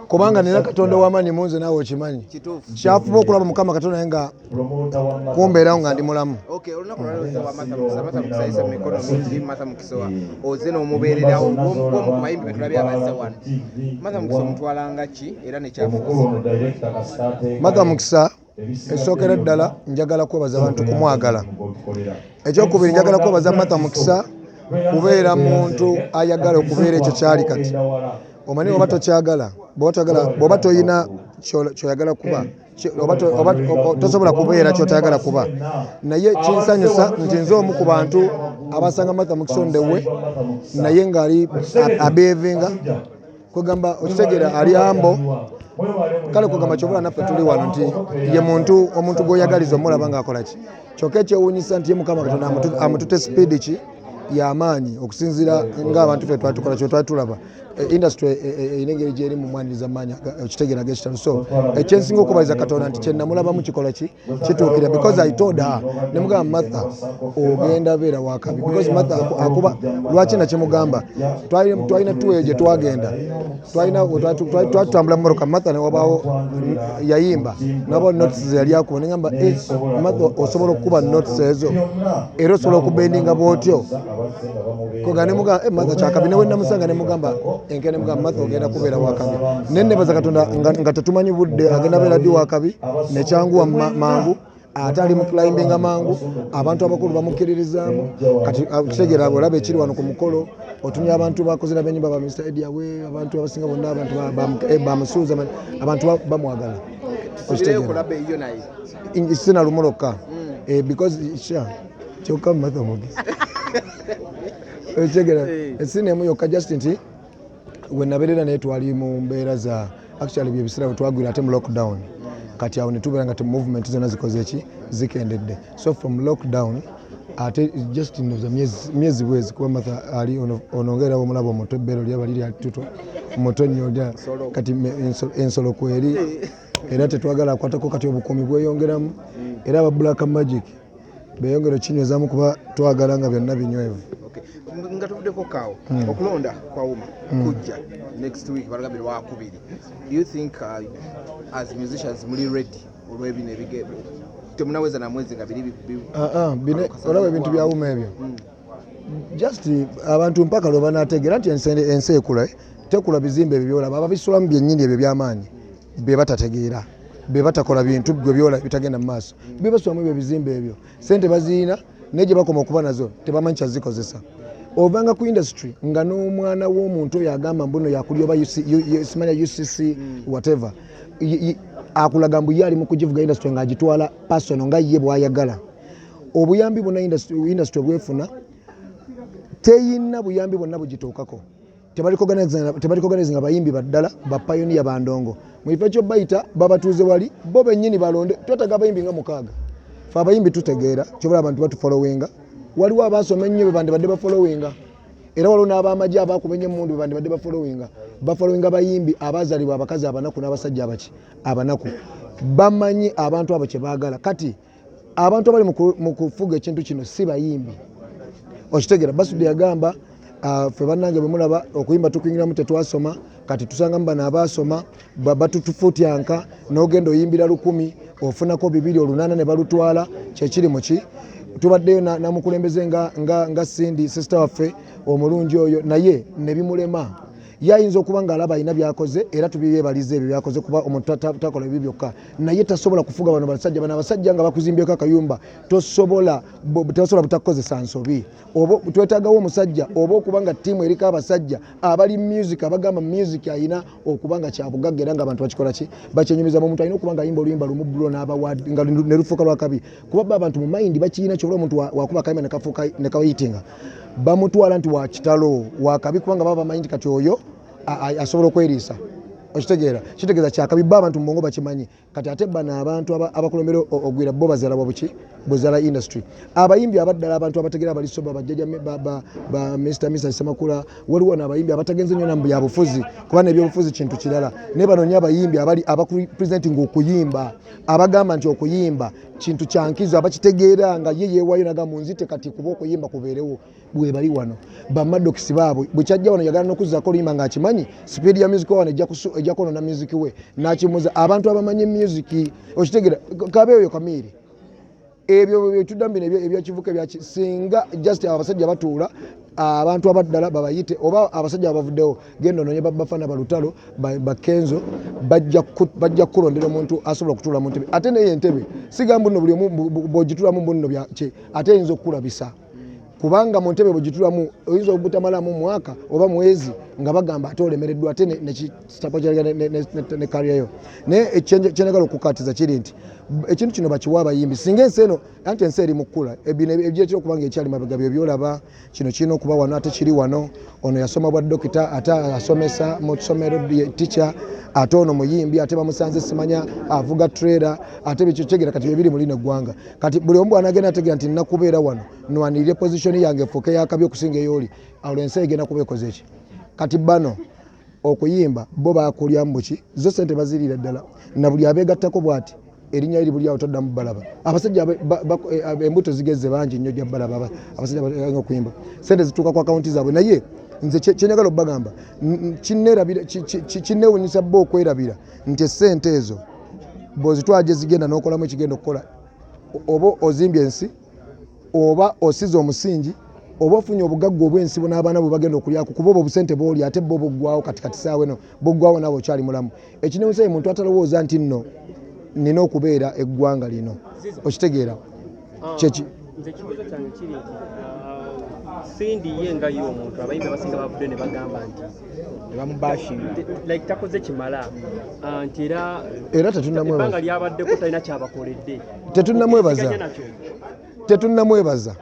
kubanga nina katonda wamanyi munze nawe okimanyi kyafuba okulaba mukama katonda naye nga kumbeerawo nga ndi mulamu matha mukisa Ekisookera ddala njagala kwebaza bantu kumwagala. Ekyokubiri njagala kwebaza Martha Mukisa kubeera muntu ayagala okubeera ekyo kyali kati. Omanyi oba tokyagala, bwoba toyina kyoyagala kuba tosobola kubeera kyotayagala kuba naye kinsanyusa nti nze omu ku bantu abasanga Martha Mukisa on the way naye ng'ali abeevinga kwegamba okitegera ali ambo kale kwegamba kyobola naffe tuli wano nti ye muntu omuntu gwoyagaliza omulaba ngaakola ki kyokka ekyewunyisa nti ye mukama katonda amutute sipiidi ki yamaanyi okusinzira ngaabantu fe twatukola kyetwali tulaba e, industry e, e, erina engeri gyeri mu mwaniriza maanyi okitegera gekitalo so ekyensinga okubaliza katonda nti kyenamulabamu kikola ki kituukira because i told her ne mugamba matha ogenda beera wakabi because matha akuba lwaki nakimugamba twalina tuweyo gye twagenda twatutambula mumoroka matha newabaawo yayimba nabao notes zeyali akuba nengamba eh, matha osobola okukuba notes ezo era osobola okubendinga bwotyo koga ne mugamba eh, matha kyakabi newe namusanga ne mugamba enkene mugamba matha ogenda kubeera wakabi naye nebaza katonda nga tetumanyi budde agenda beera ddi wakabi nekyanguwa mangu ate ali muclimbinga mangu abantu abakulu bamukkiririzaamu kati ah, kitegeera olaba ekiri wano ku mukolo otumya abantu bakozera benyumba ba mr edi awe abantu abasinga bonna abantu bamusuuza eh, abantu bamwagala okitegeera sinalumulokka hmm. eh, because sure kyokka matha omugezi okitegera esini emu yokka just nti wenabeerera naye twali mu mbeera za actually byebiseera wetwagwira ate mu lockdown kati awo netubeera nga movement zona zikoze ki zikendedde so from lockdown ate just noza myezi bwezi kuba matha ali onongeera omulaba omuto ebbeero lyaba liri atuto muto nnyo kati ensolo kweri era tetwagala akwatako kati obukuumi bweyongeramu era aba black magic beyongere okinywezaamu kuba twagala nga byonna binywevu nga tuvuddeko kaawo hmm. okulonda kwawuma hmm. kujja next week balagambye lwakubiri do you think uh, as musicians muli ready olwebino ebigebo temunaweza na mwezi nga biri ah, ah, olaba ebintu byawuma ebyo hmm. just abantu mpaka lwe banategeera nti ensi ekula eh? tekula bizimbe ebyo byolaba ababisulamu byennyini ebyo byamaanyi bebatategeera bebatakola bintu gwe byola bitagenda mu maaso bebasulamu ebyo ebizimba ebyo sente baziyina naye gye bakoma okuba nazo tebamanyi kyazikozesa ovanga ku industry nga n'omwana w'omuntu oyo agamba mbuno yakuli oba simanya ucc hmm. whatever akulaga mbu ye ali mu kugivuga industry ng'agitwala pasono nga ye bwayagala obuyambi bwonna industry obwefuna teyina buyambi bwonna bugituukako tebalikoganize nga bayimbi baddala bapayoniya bandongo mu kifo ekyobayita babatuuze wali bo bennyini balonde twetaga abayimbi nga mukaaga fe abayimbi tutegeera kyobola abantu batufolowinga waliwo abaasoma ennyo bebandibadde bafolowinga era waliwo n'abamagye abaakuba ennyo emundu bebandibadde bafolowinga bafolowinga bayimbi abaazalibwa abakazi abanaku n'abasajja abaki abanaku bamanyi abantu abo kye baagala kati abantu abali mu kufuga ekintu kino si bayimbi okitegera basudi yagamba ah, fe banange bwemulaba okuyimba tukuingiramu tetwasoma kati tusangamu bano abaasoma batutufutyanka nogenda oyimbira lukumi ofunako bibiri olunaana ne balutwala kyekiri muki tubaddeyo namukulembeze nga sindi sisita waffe omulungi oyo naye nebimulema ye ayinza okuba ng'alaba alina byakoze era tubyeyebaliza ebyo byakoze kuba omuntu takola ebyo byokka naye tasobola kufuga bano basajja bano abasajja nga bakuzimbyeko akayumba tosobola tasobola butakukozesa nsobi oba twetagawo omusajja oba okuba nga tiimu eriko abasajja abali music abagamba music ayina okuba nga kyabugagga era nga abantu bakikola ki bakyenyumiza mumuntu alina okuba nga ayimba oluyimba lumu bulo nga nelufuuka lwakabi kuba ba abantu mumayindi bakiyina kyobola omuntu wakuba akayimba nekafuuka nekayitinga bamutwala nti wakitalo wakabi kubanga baba bamanyi nti kati oyo asobola okweriisa okitegeera kitegeeza kyakabi bo abantu mubongo bakimanyi kati ate bano abantu abakulembera ogwira bo bazala wabuki buzala industry abayimbi abaddala abantu abategera bali soba bajjaja ba mr mr semakula waliwo nabayimbi abatagenze nyo namu byabufuzi kuba nebyobufuzi kintu kirala naye banonya abayimbi abali abakupresenting okuyimba abagamba nti okuyimba kintu kyankizo abakitegeera nga ye yewayo naga munzite kati kuba okuyimba kubeerewo bwebali wano bamadokisi baabwe bwekyajja wano yagala nokuzako oluyimba nga akimanyi sipiidi ya music wano ejja kwonona music we nakimuza abantu abamanyi music okitegera kabe oyo kamiiri ebyo byetuddamu bino ebyakivuka ebyaki singa just abasajja batuula abantu abaddala babayite oba abasajja abavuddewo genda ononye babafana balutalo bakenzo bajja kukulondera omuntu asobola okutuula mu ntebe ate naye entebe sigamba nno buli omu bwogitulamu mbunno ate eyinza okukulabisa kubanga mu ntebe bwegitulamu oyinza obutamalamu mwaka oba mwezi nga bagamba ate olemereddwa ate nekitapa ne kariyayo naye kyenagala okukatiza kiri nti ekintu kino bakiwa abayimbi singa ensi eno anti ensi eri mukukula bino ebyekira okuba nga ekyali mabega byo byolaba kino kirina okuba wano ate kiri wano ono yasoma bwa dokita ate asomesa mu kisomero tica ate ono muyimbi ate bamusanze simanya avuga trera ate bikyokyegera kati byebiri muli neggwanga kati buli omu bwanagenda ategera nti nina kubeera wano nwanirire position yange efuuke yakabi okusinga eyooli awo ensi egenda kuba ekoze ki kati bano okuyimba bo bakulyamu buki zo sente baziriira ddala na buli abeegattako bwati erinya eri buli awo toddamu balaba abasajja eh, embuto zigeze bangi nnyo gya balaba abasajja baga okuyimba sente zituuka ku akawunti zaabwe naye nze kyenjagala obbagamba kinneewunyisa bo okwerabira nti esente ezo bwozitwala gyezigenda nokolamu ekigenda okukola oba ozimbye ensi oba osiza omusingi oba ofunye obugagga obwensi bona abaana bwe bagenda okulyaku kuba obwo obusente booli ate bo buggwawo katikati saawa eno buggwawo naawe okyali mulamu ekinewusa ye muntu atalowooza nti nno nina okubeera eggwanga lino okitegeera ah, kyeki nze ekibuuzo kyange kiri nti ah, sindi ye nga ye omuntu abayimbi abasinga bavudde ne bagamba nti bamubashinga like takoze kimala ah, nti era era tetunnamwebaza lyabaddeko talina kyabakoledde tetunnamwebaza tetunnamwebaza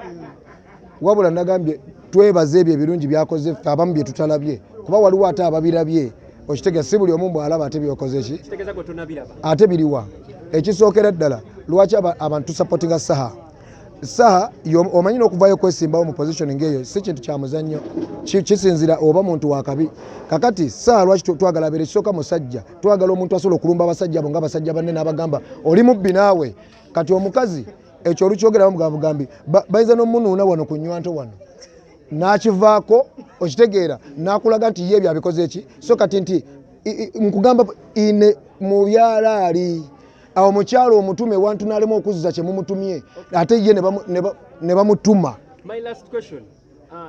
wabula nagambye twebaze ebyo ebirungi byakoze ffe abamu bye tutalabye kuba waliwo ate ababirabye okitegea si buli omu mbwalaba ate byokoze ki ate biriwa ekisookera ddala lwaki abantu tusapotinga saha saha omanyi nokuvayo kwesimbawo mu position ngeeyo si kintu kya muzannyo kisinzira oba muntu wakabi kakati saha lwaki twagala abeera ekisooka musajja twagala omuntu asobola okulumba abasajja abo nga abasajja banne n'abagamba oli mubbi naawe kati omukazi ekyo olukyogeramu bwa bugambi bayinza n'omunuuna wano ku nywanto wano n'akivaako okitegeera n'akulaga nti ye ebyo abikoze ki so kati nti nkugamba ine mu byalaali awo mukyalo omutume wantu n'alema okuzza kye mumutumye ate ye ne bamutuma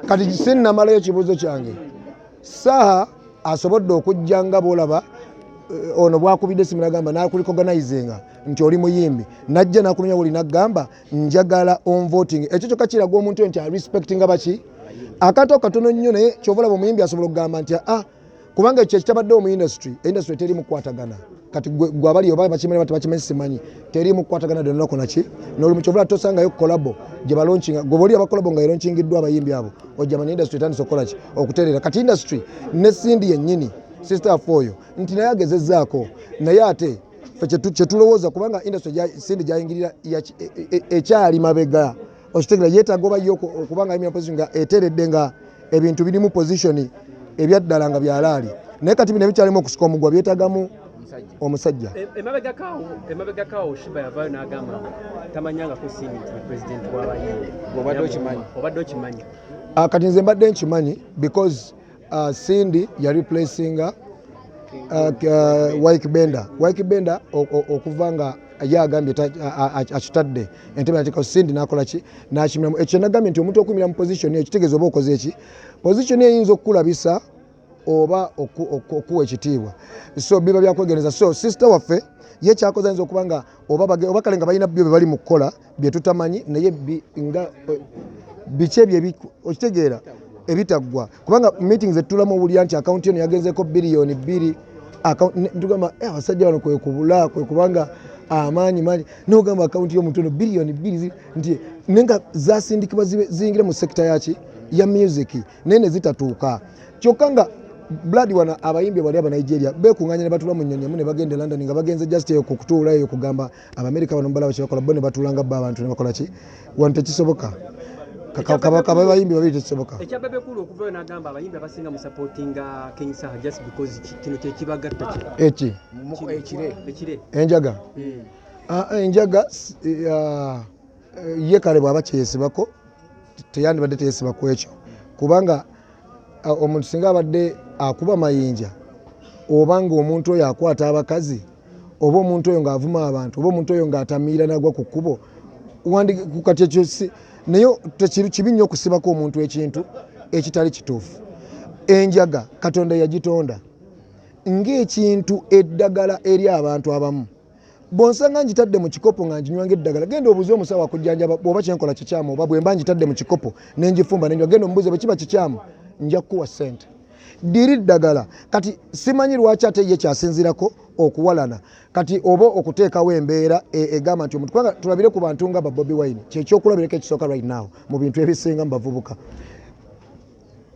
kati sinnamalayo ekibuuzo kyange saha asobodde okujja nga bwolaba eh, ono bwakubidde simu nagamba nakulikoganayizinga nti oli muyimbi najja nakunonya woli nagamba njagala onvoting ekyo kyoka kiraga omuntu nti arespectinga baki akantu akatono nnyo naye kyovalaba omuyimbi asobola okugamba nti a ah, kubanga ekyo ekitabaddewo mu industry industry teri mukwatagana kati gwe abali oba bakimanyi bati bakimanyi simanyi teri mukwatagana dde nolako naki nolumu kyovula tosangayo kolabo gye balonkinga gwe boli abakolabo nga elonkingiddwa abayimbi abo ojja manya industry etandisa okukola ki okutereera kati industry ne sindi yennyini sister afe oyo nti naye agezezaako naye ate fe kyetulowooza kubanga industry sindi gyayingirira e, e, e, ekyali mabega okitegera yetaaga oba yo okuba nga mpozi nga eteredde nga ebintu birimu position ebyaddala nga byalaali naye kati bino ebikyalimu okusika omugwa byetagamu omusajja e, emabegakawo shiba yavayo nagamba tamanyangako sini nti president wabaye obadde okimanyi ah, kati nze mbadde nkimanyi because uh, Cindy ya replacinga uh, uh, Wike Bender Wike Bender okuva nga ye agambye akitadde entebe nateekao Cindy nakola ki nakimiramu ekyo nagambye nti omuntu okumira mu position eyo kitegeeza oba okoze eki position eyinza okukulabisa oba okuwa ekitiibwa so biba byakwegendereza so sister waffe ye kyakoze ayinza okuba nga oba kale nga balina byo bye bali mu kukola bye tutamanyi naye nga eh, biki ebyo okitegeera ebitaggwa kubanga meeting zetulamu owulira nti akawunti eno yagenzeko biliyoni bbiri tugamba eh, abasajja bano kwekubula kwekubanga amaanyi mangi nogamba akawunti yomuntu ono biliyoni bbiri nti naye nga zasindikibwa ziyingire mu sekita yaki ya music naye nezitatuuka kyokka nga blood wana abayimbi bali abanigeria bekunganya ne batula mu nyonyi emu ne bagenda e london nga bagenze just eyo kukutuula eyo kugamba abamerika bano mubalaba kyebakola bo nebatuula nga bo abantu nebakola ki wano tekisoboka kabaka babayimbi babiri tekisoboka ekyababekulu okuvayo nagamba abayimbi abasinga musapotinga king saha just because kino kyekibagatta eki ekire enjaga hmm. ah, ah, enjaga ah, ye kale bwaba kyeyesibako teyandibadde teyesiba ku ekyo kubanga omuntu singa abadde akuba mayinja oba ngaomuntu oyo akwata abakazi oba omuntu oyo ngaavuma abantu oba omuntu oyo ngaatamiira nagwa ku kkubo kati ekyo naye kibi nnyo okusibako omuntu ekintu ekitali kituufu enjaga katonda yagitonda ngaekintu eddagala eri abantu abamu bwonsanga ngitadde mu kikopo nga nginywa ng'eddagala genda obuuze omusawo akujjanjaba bw'oba kye nkola kikyamu oba bwe mba ngitadde mu kikopo ne ngifumba ne nginywa genda omubuuze bwe kiba kikyamu nja kukuwa ssente diri ddagala kati simanyi lwaki ate ye kyasinzirako okuwalana kati oba okuteekawo embeera e, egamba nti omuntu kubanga tulabire ku bantu nga babobi wine kyekyokulabirako ekisooka right now mu bintu ebisinga mu bavubuka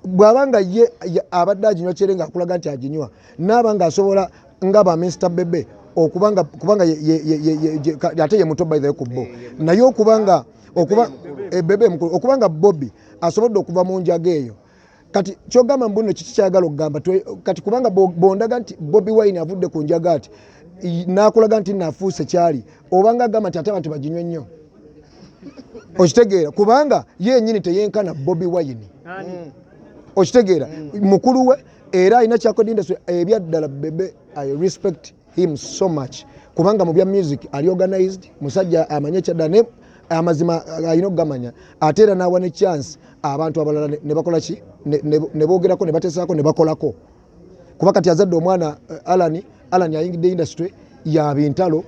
bw'aba nga ye abadde aginywa kyere ng'akulaga nti aginywa naaba ng'asobola nga ba minsita bebe okubanga kubanga ate ye muto baithe ku bo naye okubanga okuba ebebe eh, mukulu okubanga bobi asobodde okuva mu njaga eyo kati kyogamba mbuno kiki kyayagala okugamba kati kubanga bondaga nti bobi wine avudde ku njaga ati n'akulaga nti nafuuse kyali obanga agamba nti ate abantu baginywa ennyo okitegeera kubanga yenyini teyenkana bobi wayini mm. okitegeera mm. mukulu we era alina kyakodindas ebyaddala bebe i respect him so much kubanga mu bya music ali organized musajja amanye kyadda ne amazima alina okugamanya ate era n'awa ne chance abantu abalala ne bakola ki ne boogerako ne batesaako ne bakolako kuba kati azadde omwana eh, Alan Alan ayingidde industry ya bintalo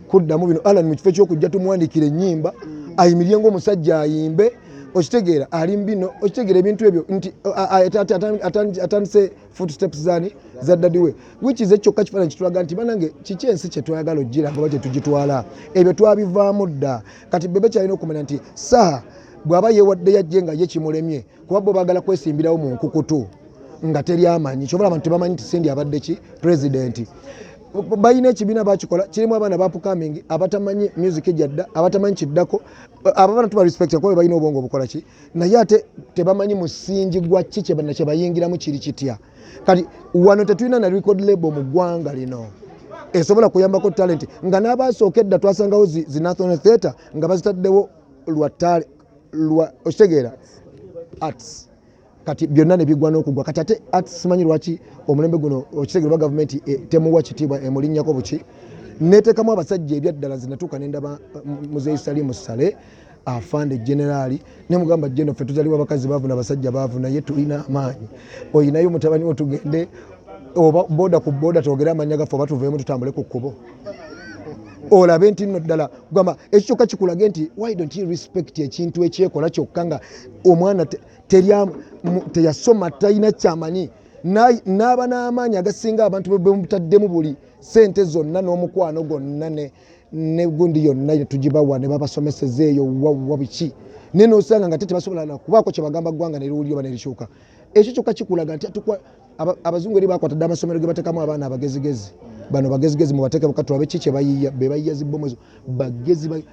kuddamu bino Alan mu kifo ky'okujja tumwandikira ennyimba ayimirye ng'omusajja ayimbe okitegeera ali mbino okitegeera ebintu ebyo nti atandise foot steps zani za dadi we wichi ze kyokka kifaananyi kitulaga nti banange kiki ensi kye twayagala okgira ngoba kye tugitwala ebyo twabivaamu dda kati bebe kyalina okumanya nti saha bw'aba yeewadde yajje nga ye kimulemye kuba bo bagala kwesimbirawo mu nkukutu nga teri amanyi kyobola abantu tebamanyi nti sindi abadde ki president balina ekibiina bakikola kirimu abaana bapukaming abatamanyi music gyadda abatamanyi kiddako ababana tuba respect kuba balina obwongo obukola ki naye ate tebamanyi musingi gwa ki kyebayingiramu kiri kitya kati wano tetulina na record label mu ggwanga lino esobola kuyambako talenti nga n'abaasooka edda twasangawo zi national theatre nga bazitaddewo lwa talent lwa okitegeera arts kati byonna nebigwa n'okugwa kati ate ati simanyi lwaki omulembe guno okitegere oba gavumenti e, temuwa kitiibwa emulinnyako buki neteekamu abasajja ebyaddala nze natuuka nendaba mm, muzeeyi salimu sale afande generaali nemugamba geno ffe tuzaliwa bakazi baavu nabasajja baavu naye tulina amaanyi oyinayo mutabani wo tugende oba boda ku boda twogere amanya gaffe oba tuveemu tutambule ku kkubo olabe nti nno ddala gwama ekyo kyokka kikulage nti why don't you respect ekintu ekyekola kyokka nga omwana teyasoma talina kyamanyi n'aba n'amaanyi agasinga abantu bemutaddemu buli sente zonna n'omukwano gwonna negundi yonna tugibawa ne babasomeseza eyo wawa biki naye nosanga nga te tebasobola nakubaako kyebagamba ggwanga neriwulira oba nerikyuka ekyo kyokka kikulaga nti abazungu eri bakwata dde amasomero ge batekamu abaana abagezigezi bano bagezigezi mubateeke bukatulabe ki kye bayiya be bayiya zibbomu ezo bagezi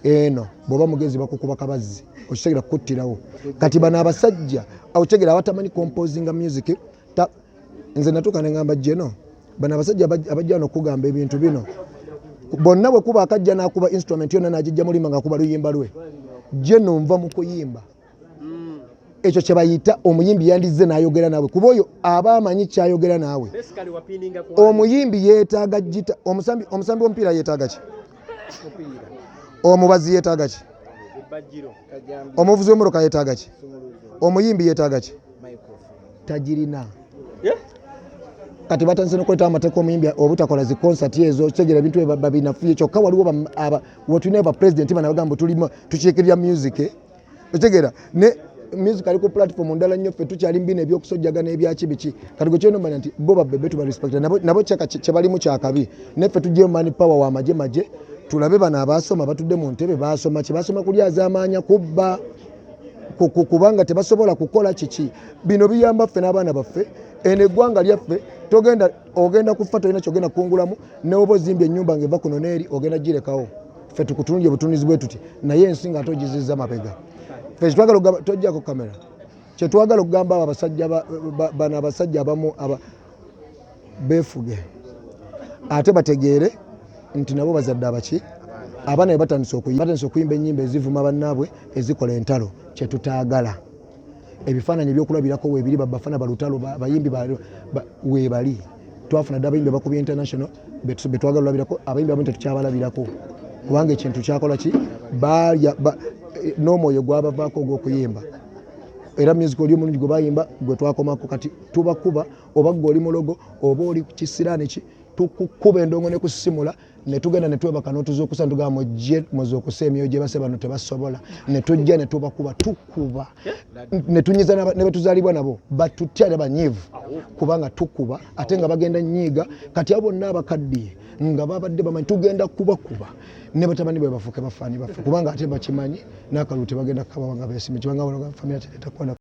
eno bwoba mugezi bakukuba kabazzi okitegera kukuttirawo kati bano abasajja okitegera abatamanyi composinga music nze natuuka nengamba jeno bano abasajja abajja no okugamba ebintu bino bonna bwe kuba akajja n'akuba instrument yonna n'agijja mulimba ng'akuba luyimba lwe jeno nva mu kuyimba mm. ekyo kyebayita omuyimbi yandizze nayogera naawe kuba oyo aba amanyi kyayogera naawe omuyimbi yetaaga jita omusambi womupiira yetaaga ki omubazi yetaaga ki omuvuzi wemuroka yetaaga ki omuyimbi yetaaga ki tagirina kati batandise nokuleta amateeka omuyimbi obutakola zi concert ezo kitegera ebintu ebabinafuye kyokka waliwo wetulina ba president banabagamba tukiikirira music otegera ne music ali ku platform ndala nnyo ffe tukyali mbina ebyokusojjagana ebyaki biki kati gwe kyona omanya nti bo babebe tuba respect nabo, nabo kyaka kyebalimu kyakabi neffe tujjeyo mani power wa maje maje tulabe bano abaasoma batudde mu ntebe baasoma kyebasoma kulyazaamaanya kubba kubanga tebasobola kukola kiki bino biyamba ffe n'abaana baffe eno eggwanga lyaffe togenda ogenda kufa tolina kyogenda kungulamu newoba ozimbye ennyumba ngaeva kuno neeri ogenda girekawo ffe tukutunulye butunuzi bwe tuti naye ensi nga ate ogiziza mabega ffe kyetwagala okugamba tojjako kamera kyetwagala okugamba abo abasajja bano abasajja abamu befuge ate bategeere nti nabo bazadde abaki abaana be batandise okuyimba enyimba ezivuma bannaabwe ezikola entalo kyetutaagala ebifaananyi ebyokulabirako weebiri babafana balutalo bayimbi weebali twafuna dde abayimbi abakuba international betwagala olabirako abayimbi abamu tetukyabalabirako kubanga ekintu kyakola ki balya eh, n'omwoyo gwabavaako ogw'okuyimba era music oli omulungi gwe bayimba gwe twakomako kati tubakuba oba gwe oli mulogo oba oli kisiraani ki tukukuba endongo ne kusimula netugenda netwebaka notuzukusa netugamba mujje muzukusa emyoyo gyebase bano tebasobola netujja netubakuba tukuba netunyiza nebetuzalibwa nabo batutya nebanyivu kubanga tukuba ate nga bagenda nyiiga kati abo bonna abakaddiye nga babadde bamanyi tugenda kubakuba ne batabani bwe bafuuke bafaani baffe kubanga ate bakimanyi n'akalulu tebagenda kukabawanga besimye kibanga wano famira teretakwana